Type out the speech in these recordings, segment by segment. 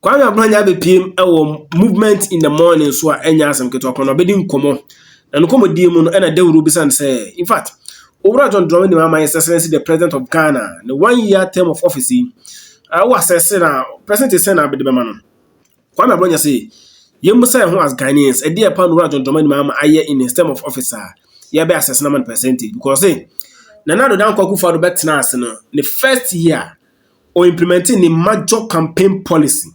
Kwame Abranya abɛpiem wɔ Movement in the Morning so a ɛnyɛ asɛm ketewa kwan na ɔbɛdi nkɔmmɔ. Na ne nkɔmmɔdie mu no ɛna dawuro bisa no sɛ, in fact, Owura John Dramani Mahama His Excellency the President of Ghana ne one year term of office yi, uh, wo assess na present sɛn na abɛde bɛma no? Kwame Abranya se, yɛn mu sɛ ho as Ghanaians, ɛdeɛ pa na Owura John Dramani Mahama ayɛ in his term of office a, yɛbɛ assess na ma no percentage because eh, Nana Addo Dankwa Akufo-Addo bɛtena ase no, ne first year, ɔimplemɛnte ne major campaign policy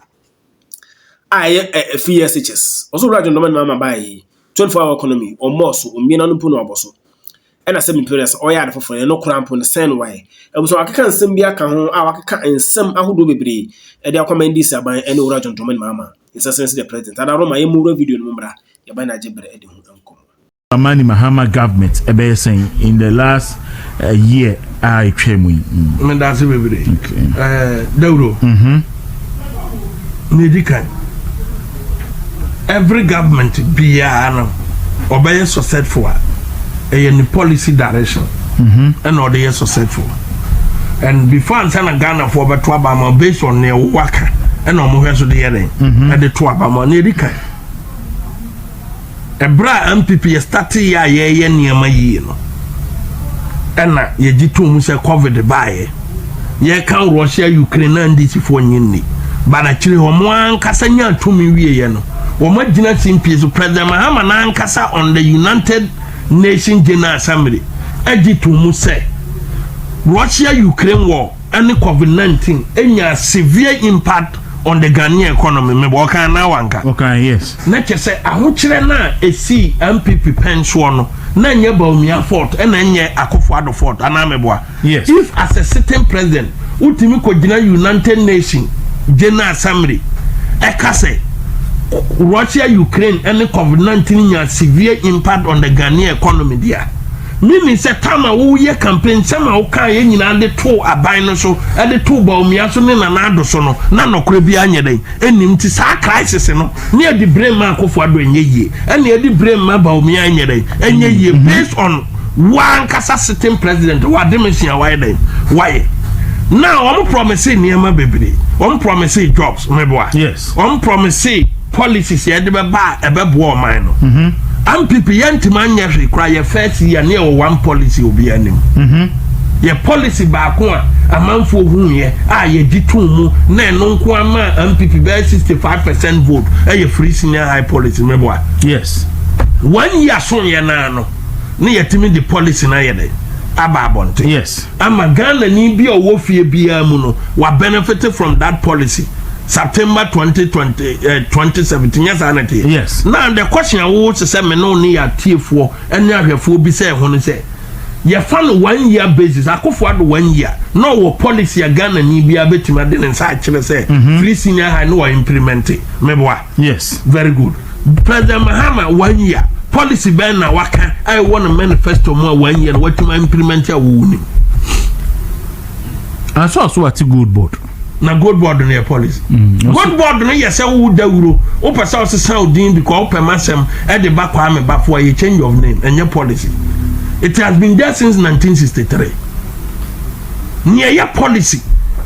a ɛyɛ ɛ three year stitches ɔsɛ owura adwendɔma ne mama baa yi twenty four hour economy ɔmmɔɔ so ɔmmie n'ano mpo na ɔbɔ so ɛna sɛ mempere sɛ ɔyɛ ade foforɔ ɛno koraa mpo no sɛn wae abusua wakeka nsɛm bi aka ho a wakeka nsɛm ahodoɔ bebree ɛde akɔma ndc aban ɛne owura adwendɔma ne mama nsɛsɛn sɛ deɛ president ada roma yɛ mu wura video no mu mmra yɛba na agye berɛ ɛde ho nkɔmmɔ Dramani Mahama government ɛbɛyɛ sɛn in the last uh, year a ɛtwa mu yi. Mm. meda ase bebree okay. uh, dawuro mm -hmm. medi kan every government biara no ɔbɛyɛ successful a ɛyɛ ne policy direction mm-hmm. ɛna ɔde yɛ successful and before ansa na ghanafoɔ bɛto aba ma based on nea wowɔ aka ɛna ɔmohwɛ so de yɛ dɛn mm-hmm. ɛde to aba ma ne ɛdi kan Ɛberɛ a NPP yɛ starteeɛ a yɛreyɛ nneɛma yie no, ɛna yɛgye tom sɛ covid baeɛ. Yɛka Russia Ukraine na NDCfoɔ nye nni. But akyire hɔ, wɔn ankasa nya tumi wieɛ no, wɔn agyina simpie so. President Mahama no ankasa on the United Nations General Assembly agye tom sɛ Russia Ukraine war ne covid nineteen nyaa severe impact on the Ghanaian economy mebɔ ɔkan anaa wanka? Ɔkan yes. Na kyɛ sɛ ahokyerɛ no a ɛsii NPP pɛn soɔ no na ɛnyɛ Bawumia fault ɛna ɛnyɛ Akufo Addo fault anaa meboa? Yes. If as a sitting president wotumi kɔ gyina United Nation General Assembly ɛka sɛ Russia Ukraine ne covid nineteen nyaa severe impact on the Ghanaian economy deɛ a Menim sɛ tam a woreyɛ campaign, nsɛm a wokaeɛ nyinaa de too aban no so, de too Bawumia so ne Nana Addo so no, na nɔkorɛ biara nyɛ dɛn? Nnim. Nti saa crisis no, ne adi bere mma Akufo Addo ɛnyɛ yie, ɛna adi bere mma Bawumia ɛnyɛ dɛn? Ɛnyɛ yie, based on wo ankasa sitting president, wo ademesua a wayɛ dɛn? Wayɛ. Now wɔn promisee nneɛma bebree, wɔn promisee jobs, meboa? Yes. Wɔn promisee. Policies yɛde bɛba a ɛbɛboa ɔman no. Ampp yɛntumi anyɛ hwee koraa yɛ first year ne yɛwɔ one policy obiara nim. Yɛ policy baako a amanfoɔ huuiɛ a yɛgye too mu na ɛno nko ara maa Ampp bɛyɛ sixty five percent vote ɛyɛ free senior high policy meboa. Yes. One year soeɛ no ara no na yɛtumi de policy no ayɛ dɛn aba abɔnten. Yes. ama Ghanani bi a ɔwɔ fie biara mu no wa benefit from that policy September twenty twenty eh, twenty seventeen nyɛ saa na ɛteɛ Yes. na the question a wowo te sɛ me ne wo ne yɛ atiefoɔ ne ahwɛfoɔ bi sɛ ɛho no sɛ yɛfa no one year basis akofo ado one year na ɔwɔ policy a Ghanani biara bɛtumi ade ne nsa akyerɛ sɛ firi senior high na wa implement meboa Yes. Very good. President Mahama one year policy bɛn na waka a ɛwɔ no manifesto mu a one year na watumi implement a wɔwɔ nim. Aso aso ate gold board. Na gold board no yɛ policy. Mm, gold board no yɛ sɛ wo dawuro wopɛ sɛ ɔsesa odin bi kɔ wopɛ masɛm ɛde ba kɔ ame bafo a yɛ change of name ɛnyɛ policy. It has been there since 1963. Nea yɛ policy.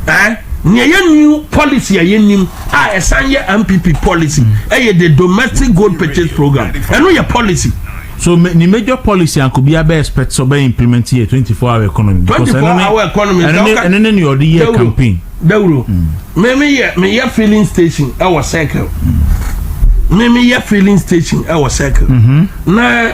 Eh? Nea yɛ new policy a yɛ nim a ɛsan yɛ npp policy mm. ɛyɛ the domestic gold purchase program ɛno yɛ policy. so ni major policy anko bi abɛ expect so bɛ implement yɛ twenty four hour economy. twenty four hour economy ɛno ne ni ɔde yɛ campaign. dawuro mímí mm. yɛ mi yɛ filling station ɛwɔ circle mímí mm. yɛ filling station ɛwɔ circle mm-hmm. na.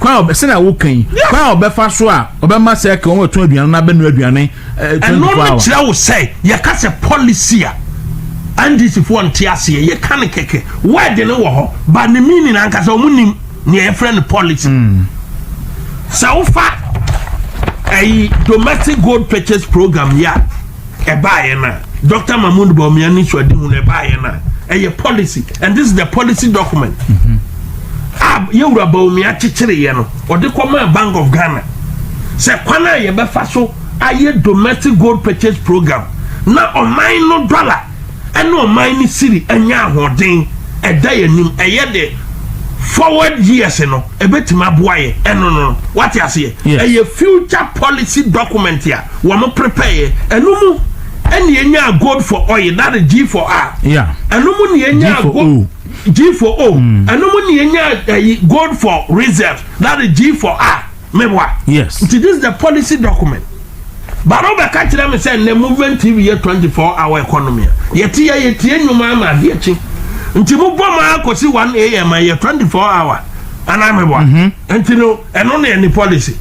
Kwan a ɔbɛ, sɛnea woka yi, kwan a ɔbɛfa so a ɔbɛma sɛ ɛka wɔn a ɛtɔn aduane no abɛnoa aduane eh, twenty Ɛno four no hours. kyerɛ wo sɛ yɛka sɛ policy a NDC foɔ nte aseɛ yɛka no kɛkɛ word no wɔ hɔ ba ne meaning ankasa ɔmo nim nea yɛfrɛ no policy hmm. sɛ wofa ɛyi domestic gold purchase program ya ɛbaeɛ no a dr mahmood bawumia ne suadehu no ɛbaeɛ no a ɛyɛ policy and this is the policy document mm-hmm. a yɛwura bawumia kyekyereeɛ no ɔde kɔmaa bank of ghana sɛ kwan a yɛbɛfa so ayɛ domestic gold purchase program na ɔman no dollar ɛna ɔman ne siri anya ahoɔden ɛda yɛ anim ɛyɛ de forward years no ɛbɛtumi aboa yɛ ɛno no wate aseɛ ɛyɛ future policy document a wɔn prepare yɛ ɛno mu ɛne ɛnya gold for oil that is g for r ɛno mu ne ɛnya gold g for o hmm. ɛno mu ne ɛnya eh, gold for reserve that is g for r Meboa? Yes. Nti this is the policy document. But wobɛka kyerɛ me sɛ nnɛ Movement TV yɛ 24 hour economy a. Yɛte yɛ yɛtie nnwom ama adeɛ kye. Nti mobɔ mu ara kɔsi 1 am a yɛ 24 hour. Anaa meboa? Mm-hmm. Nti no, ɛno na ɛne policy.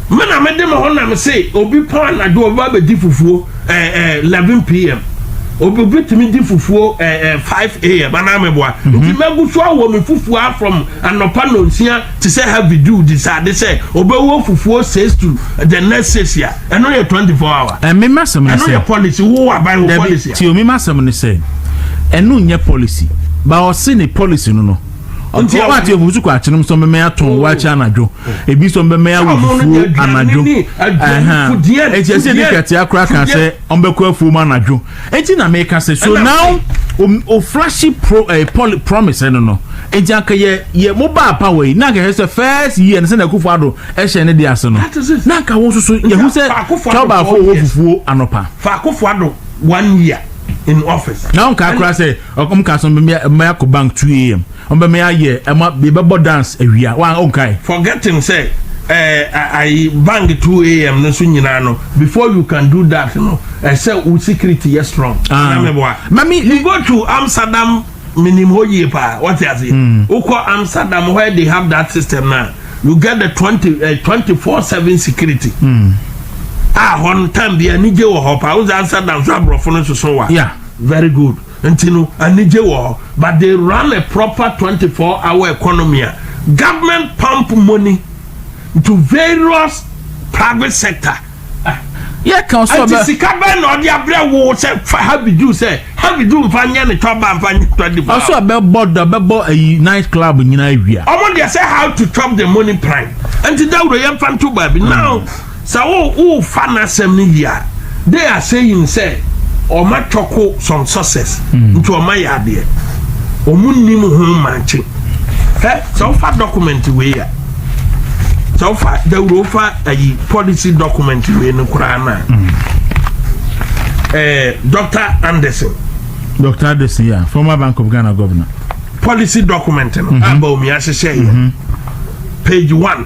Me na mede me ho nam se obi pɔn anadwo ɔba bɛdi fufuo ɛɛ ɛɛ 11 pm. Obi obi tumi di fufuo ɛɛ ɛɛ 5 am. Anaa meboa? Mm-hmm. Nti mɛgu so awɔ me fufuo from anɔpa nonsia te sɛ heavy dew de sɛ ade sɛ ɔbɛwɔ fufuo six to the next six a ɛno yɛ twenty four hour. ɛmi ma sɛm ne sɛ ɛno yɛ policy wo aban wo policy a. ti omi ma sɛm ne sɛ ɛno nyɛ policy ba ɔsi ne policy no no nti ɔwɔ ati efufusu kɔ akyene mu sɛ ɔbɛmɛ yɛ atɔn wɔ akyɛ anadwo ebi sɛ ɔbɛmɛ yɛ awo fufuo anadwo ɛhɛn eti ɛsɛ ɛdi kɛtɛ akora kan sɛ ɔbɛkɔ afuo mu anadwo. Enti na me ka sɛ so now o flashy pro eh, poly, promise ɛno no enti anka yɛ yɛ mo ba apa wɔ yi na anka yɛ sɛ first year no sɛ na akufo ado ɛhyɛ ne de ase no na anka wɔn nso so yɛ ho sɛ tɔbaafo wɔ fufuo anɔpa fa akufo ado one year in office na wɔn kaa koraa sɛ wɔn kaa so mmea mmea kɔ bank two am Ɔbɛ me ayɛ ɛma bi bɛbɔ dance awia wa onkae. Forgetting sɛ ɛɛ ayi bang two am no nso nyinaa no before you can do that no ɛsɛ wo security yɛ strong. Ah. Na meboa. Mami. You go to Amsterdam minim hɔ yie paa wɔte ase. Mm. Wokɔ Amsterdam where they have that system na you get the twenty uh, eh, twenty four seven security. Mm. A ah, hɔ no time bi anigye wɔ hɔ paa wosɛ Amsterdam so aborɔfo no soso wa. Yeah. Very good. Nti no anigye wɔ hɔ but they run a proper twenty four hour economy a government pump money to various private sector. Nti sika bɛn na ɔde abrɛ wo sɛ fa heavy do sɛ heavy do nfa nyɛ ne tɔ ba nfa nyɛ tɔ di ba. Ɔsɔ bɛbɔ dɔ bɛbɔ ayi night club nyinaa wia. Ɔmo deɛ sɛ how to chop the money prime nti dawuro yɛn fa nto baabi now. Sɛ wo wofa n'asɛm no yie a, they are saying sɛ ɔma twɔko some sources mm. nti ɔma yɛ adeɛ ɔmo nim ho mankye hɛ sɛ wofa document wei a sɛ wofa dawuro wofa ayi policy document wei no koraa no a mm. eh, dr anderson dr anderson yeah, former bank of ghana governor policy document no mm-hmm. aba omi ahyehyɛ yɛ mm-hmm. page one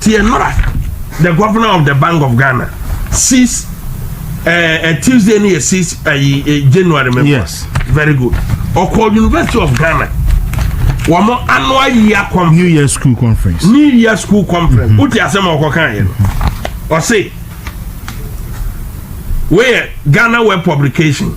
Tie mmra, The governor of the Bank of Ghana sees uh, uh, Tuesday ni yɛ sees uh, uh, January mɛmɔ. Yes. Very good. Ɔkɔ University of Ghana. Wɔn annual year conference. New year school conference. New year school conference. Wote mm-hmm. asɛm a ɔkɔ kan yɛ no. Ɔse, wei yɛ Ghana web publication.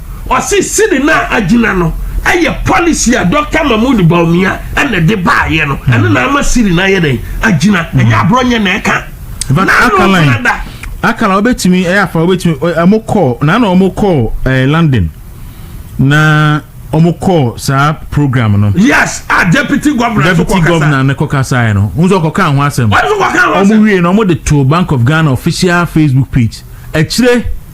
Ɔse sidi no a agyina no ɛyɛ policy a Doctor Mahmoud Bawumia ɛna ɛde baayɛ no ɛno na ama sidi no ayɛ dɛn agyina ɛnyɛ aborɔnyɛ na ɛka Akalan Akalan wobɛtumi ɛyɛ afa wobɛtumi ɛmo kɔɔ na na ɔmo kɔɔ ɛɛ London na ɔmo kɔɔ saa program no. yes a deputy governor deputy so kɔkasa governor ne kɔkasaeɛ no n sɛ ɔkɔka ho asɛm ɔmo wie na ɔmo de to Bank of Ghana official Facebook page akyire.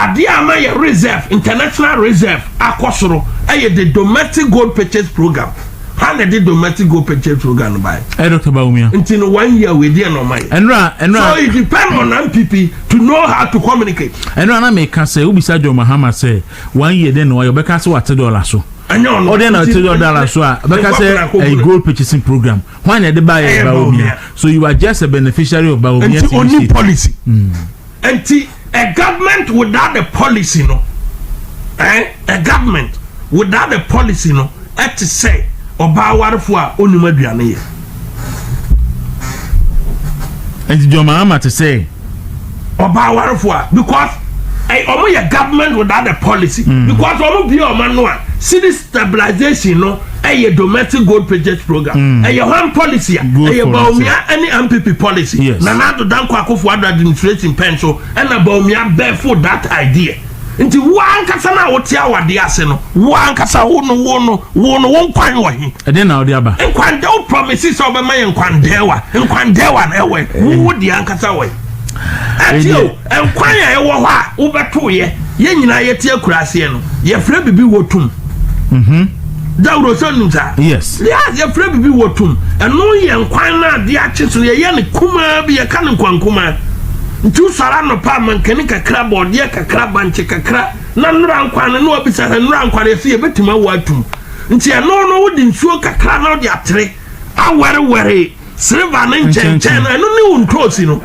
Adeɛ a ama yɛn reserve, international reserve, akɔ soro yɛ the domestic gold purchase program. Hwan na ɛde domestic gold purchase program no baeɛ? Ɛyɛ Doctor Bawumia. Nti no one year wei deɛ na ɔma yɛ. Ɛnura ɛnura. So it depend on NPP to know how to communicate. Ɛnura na mɛka sɛ wobisa John Mahama sɛ one year deɛ na ɔyɛ ɔbɛka sɛ wate dɔla so. Ɛnyɛ ɔno. Ɔdeɛ na ɔte dɔla so a ɔbɛka sɛ ɛyɛ gold purchasing program. Hwan na ɛde baeɛ Bawumia. So you are just a beneficiary of Bawumia. Nti oni policy. Mm. Nti. A government without the policy no eh, a government without the policy no ɛte sɛ ɔbaa awarefo a onim aduane yɛ. Nti John Mahama te sɛ. Ɔbaa awarefo a because wɔn yɛ government without the policy mm. because wɔn bia wɔn ano a city stabilization no. ɛyɛ domestic gold purchase program mm. ɛyɛ hwan policy a ɛyɛ baomia ɛne mpp policy yes. nana ado danko akofo ado administration pɛn so ɛna baomia bɛfo that idea nti wo ankasa no a wote awadeɛ ase no wo ankasa wo no wo no wo no wo nkwan wɔ he ɛdeɛ na wode aba nkwandɛ wo promise sɛ wobɛma yɛ nkwandɛwa nkwandɛwa no ɛwɔ wo wo deɛ ankasa wɔ he ɛteɛ o Nkwan a ɛwɔ hɔ a wobɛtow yɛ. Yɛn nyinaa yɛte akuraseɛ no yɛfrɛ bibi wɔ tum. Mhm. Dawuro sɛ nim saa? Yes. Yes, yɛfrɛ bibi wɔ tum. Ɛno yɛ nkwan no adeɛ akye so yɛyɛ no kumaa bi yɛka no nkwan kumaa. Nti wosɔre anɔpa a mankani kakra, bɔɔdeɛ kakra, bankye kakra na nnora nkwan no na wabisa sɛ nnora nkwan no yɛse yɛbɛtumi awɔ atum. Nti ɛno no wode nsuo kakra na wode atere awɛrewɛre. Silver no nkyɛnkyɛn no, ɛno ne wo ntoosi no.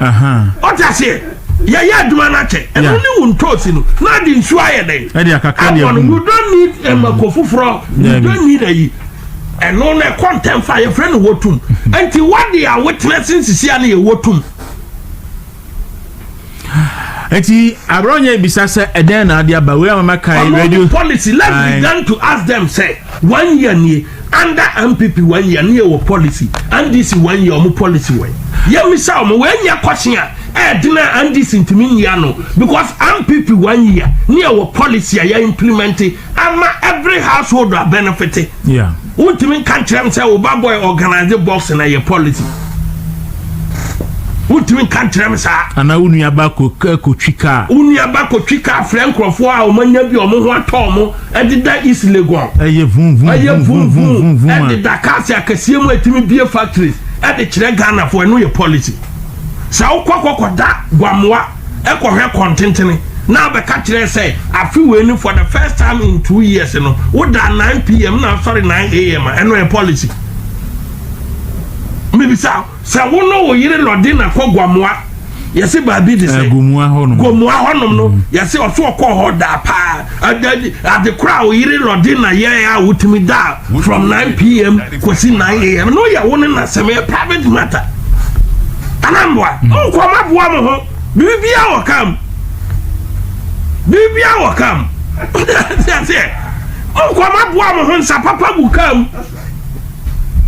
Ɔte aseɛ? Yɛyɛ adwuma no akyɛ. Ɛno ne wo ntoosi no. Na ade nsuo ayɛ dɛn? Ɛde akakra ne ɛho. You don't need eh, mmako foforɔ. You don't need ayi. Ɛno na ɛkɔ ntɛmfa yɛfrɛ no wɔtum. Nti wɔde a wotena se nsisia no yɛ wɔtum. Eti Abrɔnyɛ ebisa sɛ ɛdɛn na ade aba wei a mama kan radio. Ɔno de policy let's Aye. begin to ask them sɛ one year nie under NPP one year ne yɛwɔ policy NDC one year ɔmo policy wɔn yɛmisa ɔmo wei nyɛ kɔhye a ɛɛdena NDC ntumi nyia no because NPP one year ne yɛwɔ policy a yɛ implement Ama every household a benefite. Yeah. Wontumi nka nkyerɛ m sɛ wo ba boy organize boxing na ɛyɛ policy. Wontumi nka nkyerɛ m saa. Anaa wo nuaba kɔtwi kaa. Wo nuaba kɔtwi kaa frɛ nkurɔfoɔ a wɔanya bi a wɔn ho atɔ wɔn ɛdeda East Legon. Ɛyɛ vum vum ɛyɛ vum vum vum vum ɛdeda cars akɛseɛ mu ɛtumi bie factories ɛde kyerɛ Ghanafoɔ ɛno yɛ policy. Sɛ wokɔ kɔkɔda Gwamoa. kɔhwɛ kɔntentene na abɛka kyerɛ sɛ afe wei ni for the first time in two years no woda 9 pm na asɔre 9 am a ɛno yɛ policy mebisa sɛ wo no wo yere lɔde na kɔ gwamoa yɛse baabi de sɛ eh, gomoa hɔnom no mm. yɛse ɔso ɔkɔ hɔ daa paa Ade koro a wo yere Lordina yɛe a wotumi daa from 9 pm kosi 9 am no yɛ wo ne n'asɛm, ɛyɛ private matter. Anamboa, mokɔ ma boa mo ho. Bibia wɔ kam. Bibia wɔ kam. Ɔde aseɛ. Mokɔ ma boa mo ho nsa papa gu kam.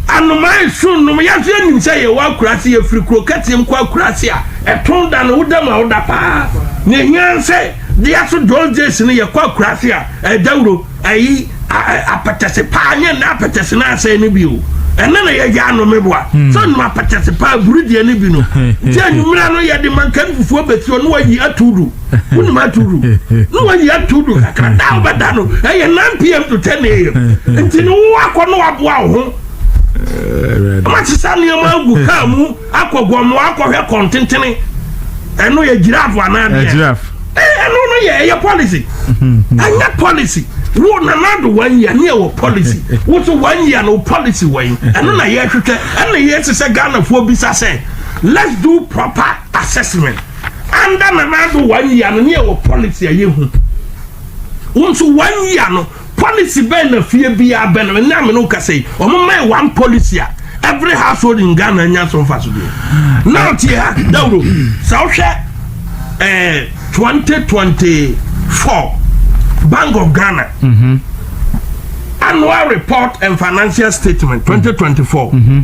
Anomaa su nnom yɛ nso yɛnim sɛ yɛwɔ akuraase yɛfiri kuro kɛseɛ mu kɔ akuraase a ɛtɔn da no woda mu a woda paa na ɛhia sɛ deɛ so those days no yɛkɔ akuraase a ɛdawuro ayi apɛtɛse paa nyɛ nna apɛtɛse no asɛe no bio ɛna na yɛyɛ anome boa hmm. sɛ nnoma apɛtɛse paa buru deɛ no bi no nti anwummerɛ no yɛde mankan fufuo bɛsi ɔno ayi ato do wonim ato du na wayi ato du kakra da a wobɛda no ɛyɛ 9 pm to 10 am nti ne wo akɔ na waboa wo ho ɔmakyesa nneɛma agu kaa mu akɔ gɔmmoa akɔhwɛ kɔntentene ɛno yɛ giraffe anaa deɛ ɛno no yɛ ɛyɛ policy ɛnyɛ policy wo nana do wɔn yia ne ɛwɔ policy woso wɔn yia no policy wɔn ɛno na yɛhwehwɛ ɛna yɛsesɛ ghanafoɔ bisa sɛ let's do proper assessment Under Nana Addo one year no ne ɛwɔ policy a yɛhu. Wo nso one year no policy bɛn na fie biara bɛn na ɛnna amene kasa yi wɔn mma one policy a every household in Ghana nya so nfa so deɛ. Now tie ha dawuro sɛ wohwɛ ɛɛ eh, twenty twenty four Bank of Ghana. Mm -hmm. Annual report and financial statement twenty twenty four. Mm -hmm.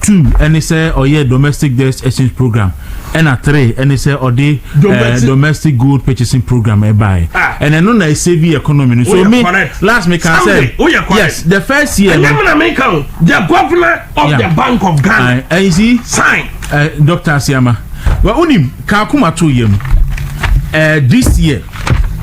Two ɛne sɛ ɔyɛ domestic debt exchange program ɛna three ɛne sɛ ɔde eh, domestic gold purchasing program ɛbaeɛ ah. ɛna ɛno na ɛsɛ bi economy no so me last me kan sɛ yes the first year no the governor of yeah. the bank of ghana uh, you see sign uh, eh, dr asiama well onim kakuma to yam uh, this year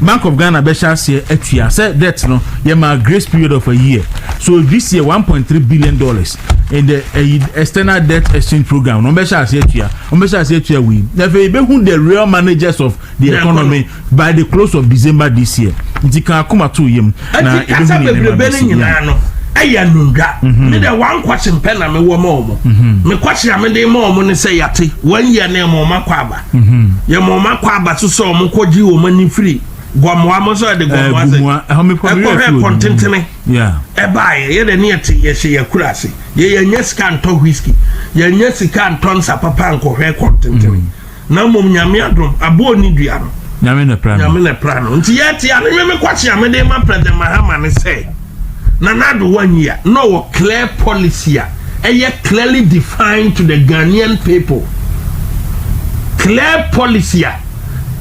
Bank of Ghana bɛhyɛ aseɛ atua sɛ debt no yɛmaa grace period of a year so this year one point three billion dollars in the ɛyi eh, external debt exchange program na wɔbɛhyɛ aseɛ atua wɔbɛhyɛ aseɛ atua wei na afei yɛbɛhu the real managers of the economy by the close of December this year nti kan akoma to yam na ɛbɛhu ne nneɛma bɛsi nyinaa no ɛyɛ anundwa mhm. me dɛ wankɔkye mpɛ na mewɔ ma ɔmo mhm. mekwakye a mede ma ɔmo ne sɛ yɛate wɔn yɛ ne ma ɔmo akɔ aba yɛ mo ma kɔ aba so sɛ ɔmo kɔ gye wɔn ani firi gɔmoa mo sɛ ɛde gɔmoa sɛ ɛkɔ hɛ kɔntentene ɛbaayɛ yɛ dɛ ne yɛte yɛhyɛ yɛkura ase yɛ yɛnyɛ sika ntɔ whisky yɛnyɛ sika ntɔ nsa papa nkɔhwɛ kɔntentene na mmom nyame adom aboɔ ne dua no nyame na pra no nti yɛte a ne me mekɔkye a mede ma president mahama ne sɛ Nana Addo wannyi a, na ɔwɔ clear policy a ɛyɛ clearly defined to the Ghanaian people. Clear policy a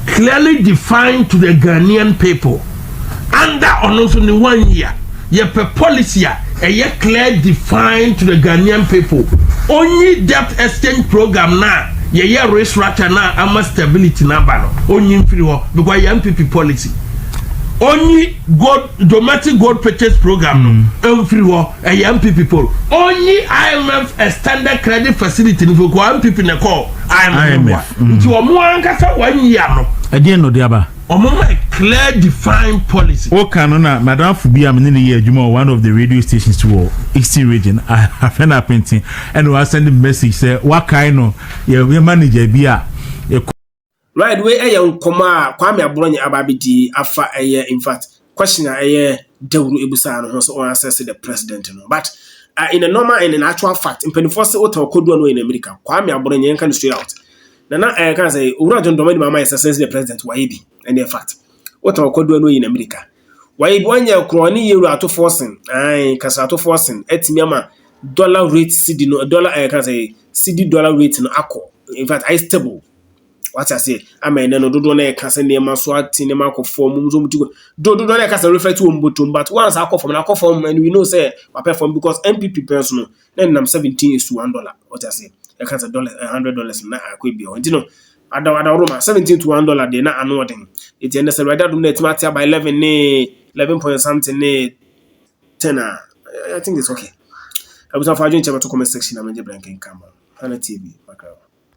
clearly defined to the Ghanaian people. Under ɔno nso ne one year, yɛpɛ policy a ɛyɛ clear defined to the Ghanaian people. Onyi debt exchange program na yɛyɛ restructure na ama stability na aba no, onyi mfiri hɔ because yɛn pipi policy. Onyi gold Domestic Gold Purchase Programme no mfiri hɔ, ɛyɛ MPP poll. Ɔnyi IMF Extended Credit Facility no firi hɔ, MPP na ɛkɔɔ IMF no mua, nti wɔn ankasa wɔanyi ano. Ɛdeɛn na ɔde aba? Wɔmma a clear defined policy. Wo ka no na m'adamfo bi a me ne no yɛ adwuma wɔ one of the radio stations wɔ Eastern region, afɛ no Apenten, ɛna wa send me message sɛ wakae no, yɛ manager bi a, yɛ. Right wei ɛyɛ nkɔmɔ a Kwame Abrɔnyɛ aba abɛdi afa ɛyɛ in fact question a ɛyɛ Dawuro ebusaa no ho sɛ ɔn assess the president no but uh, in a normal and in actual fact mpanimfoɔ sɛ wotɛn ɔkɔdu a na ɔyɛ n'amirika Kwame Abrɔnyɛ yɛn ka no straight out na na ɛka eh, sɛ owura John Dramani Mahama yɛ assess the president wayɛ bi ɛne yɛ fact wotɛn ɔkɔdu a na ɔyɛ n'amirika wayɛ bi wanyɛ korɔ ne yɛ wura atofoɔ sen ae kasa atofoɔ sen atumi ama dollar rate cedi no dollar ɛka eh, sɛ cedi dollar rate no akɔ in fact ayɛ stable Wate aseɛ? Ama ɛnɛ no dodoɔ no ɛka sɛ nneɛma so ate nneɛma akɔ fam nso wɔn ti kɔ do dodoɔ no ɛka sɛ refa ti wɔn bɔtɔm but once akɔ fam na akɔ fam and we know sɛ wapɛ fam because NPP pɛn so no na nam seventeen is to one dollar wate aseɛ ɛka sɛ dollar eh, hundred dollars na akɔ ebi ɔ nti no adaw adaw roma seventeen to one dollar deɛ na ano ɔden eti ɛnɛ sɛ awurade adum na ɛtumi ate aba eleven ne eleven point something ne ten a I think it's okay. Abusafo adwenkyɛ bɛto comment section na mɛgye brɛ nkenkan ma. Hana TV, Makrawa.